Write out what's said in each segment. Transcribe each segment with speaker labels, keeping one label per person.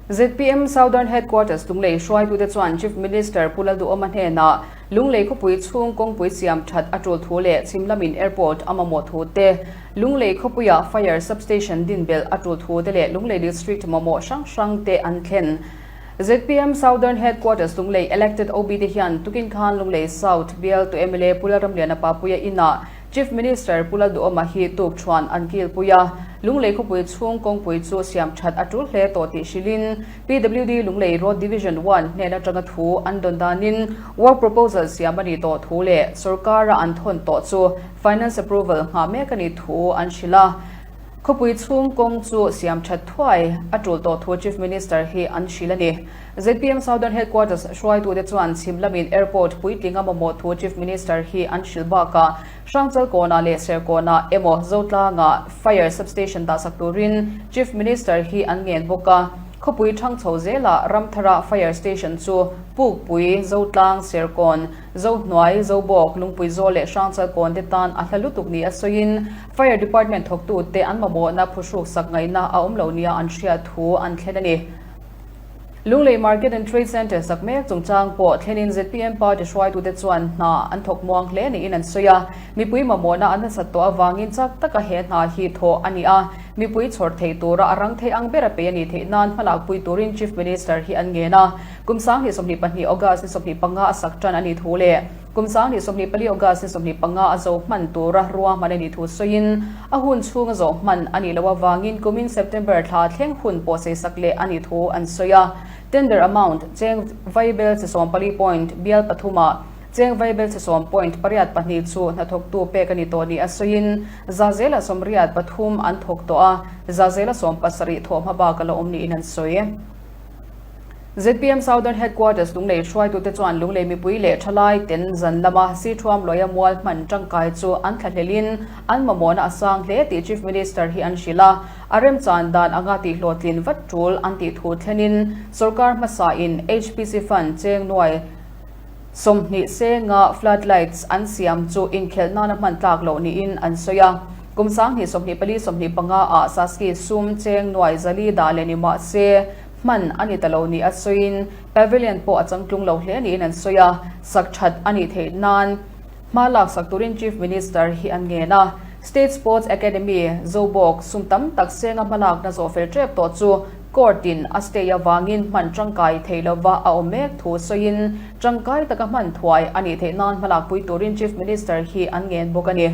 Speaker 1: ZPM Southern Headquarters Lunglei hruaitute chuan Chief Minister Pu Lalduhawma hnena Lunglei khawpui chhung kawngpui siam that a tul thu leh chhim lamin airport a mamawh thu te, Lunglei khawpuia fire substation din belh a tul thu te leh Lunglei district mamawh hrang hrang te an thlen. ZPM Southern Headquarters Lunglei elected OB te hian tukin khan Lunglei South Bialtu mla Pu Lalramliana Papuia inah Chief Minister Pula Duhawma hi tuk thuan an kilpui a, Lunglei khawpui chhung kawngpui chu siam that a tul hle tawh tih hrilhin PWD Lunglei Road Division one hnena tanga thu an dawn danin work proposal siam a nih tawh thu leh sorkara an thawn tawh chu finance approval nghah mek a nih thu an hrilh a, khawpui chhung kawng chu siam that thuai a tul tawh thu Chief Minister hi an hrilh a ni. Zpm Southern Headquarters hruaitute chuan chhim lamin Airport puitlinga mamawh thu Chief Minister hi an hrilh bakah Hrangchal kawnah leh Serkawnah emaw Zotlangah Fire Substation dahsak turin Chief Minister hi an ngen bawk a. Khawpui thang chho zela Ramthara Fire Station chu Pukpui, Zotlang, Serkawn, Zohnuai, Zobawk, Lungpuizawl leh Hrangchal kawnte tan a hla lutuk nih a sawiin Fire Department thawktute an mamawhna phuhruk sak ngaihna a awm lo nia an hria thu an thlen a ni. Lunglei Market and Trade Centre sak mek chungchang pawh thlenin zpm party hruaitute chuan hna an thawk muang hle niin an sawi a. Mipui mamawna an hlasat tawh avangin chak taka he hna hi thawh a ni a, mipui chhawrh theih tura a rang thei ang ber a pe a ni theih nan hmalakpui turin Chief Minister hi an ngen a. Kum Sang ni sawmhnih pahnih August ni sawmhnih panga a sak tan a ni thu le. Kum sangni sawhnih pali August-ni sawhnih panga a zo hman tura ruahman a nih thu sawiin, a hun chhung a zo hman a nih loh avangin kumin September thla thleng hun pawhseisak leh a nih thu an sawi a. Tender amount, Cheng vaibel chi sawm pali point, bial pathuma cheng vaibel chi sawm point pariat pahnih chu hnathawktu pek a ni tawh nih a sawiin, za zela sawm riat pathum an thawk tawh a, za zela sawm pasarih thawh hma bak a la awm niin an sawi. Zpm Southern Headquarters Lunglei hruaitute chuan Lunglei mipui leh thalai ten zan lama Sichuam luaia mual hman tangkai chu an thla hlel in an mamawhna a sang hle tih Chief Minister hi an hrilh a, a remchan dan anga tihhlawh tlin vat tul an tih thu thlen in sorkar hmasa in HPC Fund cheng nuai sawmhnih se nga flood lights an siam chu inkhelh nana hman tlak loh niin an sawi a. Kum Sanghnih sawmhnih pali sawmhnih panga ah Saski sum cheng nuai zali dah leh ni mahse Hman a ni ta lo nih a sawiin Pavilion pawh a changtlung lo hle niin an sawi a, sak that a nih theih nan hma laksak turin Chief Minister hi an ngen a. State Sports Academy Zobawk sum tam tak senga hma lakna zawh fel tep tawh chu Court in a stay avangin hman tangkai thei lova a awm mek thu sawiin tangkai taka hman thuai a nih theih nan hma lakpui turin Chief Minister hi an ngen bawk a ni.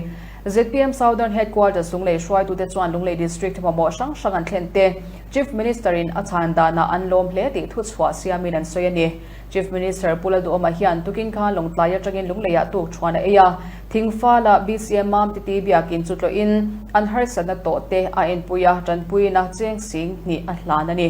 Speaker 1: Zpm Southern Headquarter sunglei hruaitute chuan Lunglei District mamawh hrang hrang an thlen te, Chief Minister-in a chhan danah an lawm hle tih thuchhuah siamin an sawi a ni. Chief Minister Pu Lalduawma hian tukin khan Lawngtlai atangin lungleiah tukṭhuan a ei a. Thingfala BCM mam titi biakin chu tlawhin an harsatna tawhte a inpui a, ṭanpuina cheng sing hnih a hlan a ni.